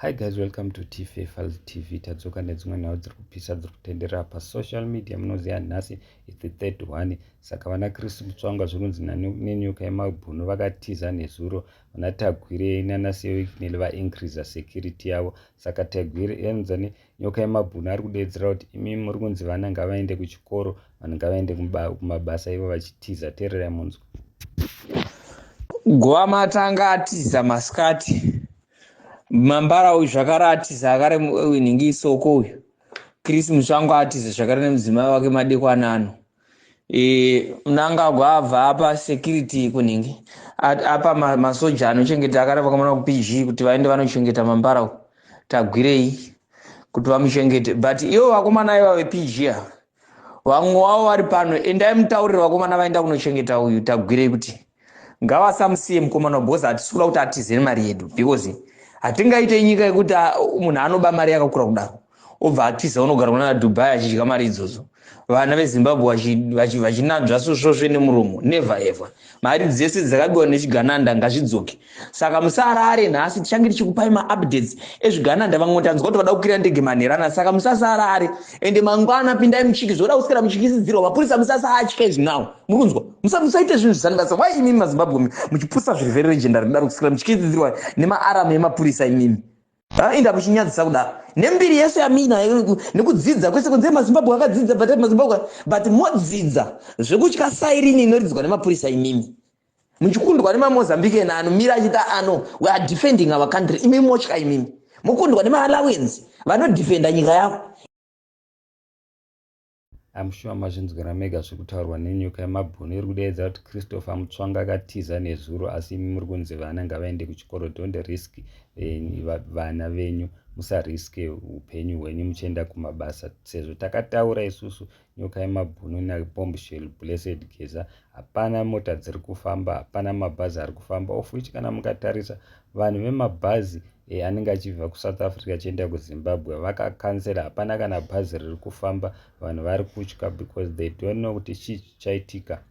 Hi guys, welcome to TFA Files TV. Tadzoka nedzimwe nhau dziri kupisa dziri kutenderera pasocial media munoziva nhasi it's the third one. Saka vana Chris Mutsvangwa zviri kunzi nenyoka yemabhunu vakatiza nezuro vana Tagwirei nana Seoiknel vaincreaser security yavo. Saka Tagwire enzani nyoka yemabhunu ari kudedzera kuti imi muri kunzi vana ngavaende kuchikoro vanhu ngavaende kumabasa ivo vachitiza tererai munzwa. Guva matanga atiza masikati mambara uyu zvakare atiza akare winhingi isoko uyu chris mushango atiza zvakare nemudzimai wake madekwana ano e, mnangagwa abva apa security kunhingi apa masoja ma anochengeta akare vakamona kupg kuti vaende vanochengeta mambara uyu tagwirei kuti vamuchengete but ivo vakomana ivave pg ava vamwe wavo vari pano endai mutaurire vakomana vaenda kunochengeta uyu tagwirei kuti ngavasamusiye mukomana because hatisikuda kuti atize nemari yedu because hatingaite nyika yekuti ah, munhu anoba mari yakakura kudaro obva atiza unogara kunana dubai achidya mari idzodzo vana vezimbabwe vachinanzva sosvosve nemuromo never ever mari dzese dzakabiwa nechigananda ngazvidzoke saka musarare nhasi tichange tichikupai maupdates ezvigananda vamwe tanzwa kuti vada kukwira ndege manherana saka musasarare ende mangwana pindai muchiki zvoda kuswera muchikisidzirwa mapurisa musasatye izvi now muri kunzwa musaite zvinhu zvisani basa why imimi mazimbabwe muchipusa zviri very legendary kudaro kuswera muchikisidzirwa nemaaram emapurisa imimi Ah, inda muchinyadzisa kudaro nembiri yese yamuinayo nekudzidza kwese kunze mazimbabwe akadzidza but mazimbabwe but modzidza zvekutya sairini inoridzwa nemapurisa imimi muchikundwa nemamozambique ena anomira achita ano we are defending our country imimi motya imimi mokundwa nemaalawens vanodefenda nyika yavo I'm sure mazvinzwira mega zviri kutaurwa nenyoka yemabhunu iri kudeedza kuti Christopher Mutsvanga akatiza nezuro asi imi muri kunzi vana ngavaende kuchikoro don't risk vana venyu musariske upenyu hwenyu muchienda kumabasa sezvo takataura isusu nyoka yemabhunu nabombshell blessed geza hapana mota dziri kufamba hapana mabhazi ari kufamba of which kana mukatarisa vanhu vemabhazi e, anenge achibva kusouth africa achienda kuzimbabwe vakacancela hapana kana bhazi riri kufamba vanhu vari kutya because they don't know kuti chii chichaitika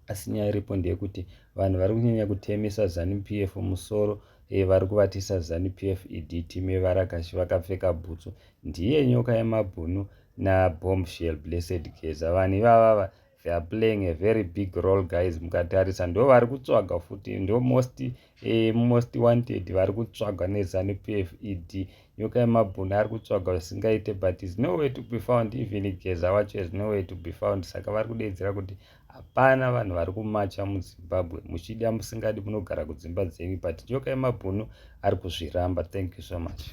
asi nyaya iripo ndeyekuti vanhu vari kunyanya kutemesa zanupf musoro e, vari kuvatisa zanupf ed team yevarakashi vakapfeka bhutsu ndiye nyoka yemabhunu nabomshel blessed geza vanhu ivavava they are playing a very big role guys mukatarisa ndo vari kutsvaga futi ndo most eh, most wanted vari kutsvaga nezanu p f e d nyoka yemabhunu ari kutsvaga zvisingaite but is no way to be found even igeza wacho is no way to be found saka vari kudeidzira kuti hapana vanhu vari kumacha muzimbabwe muchida musingadi munogara kudzimba dzenyu but nyoka yemabhunu ari kuzviramba thank you so much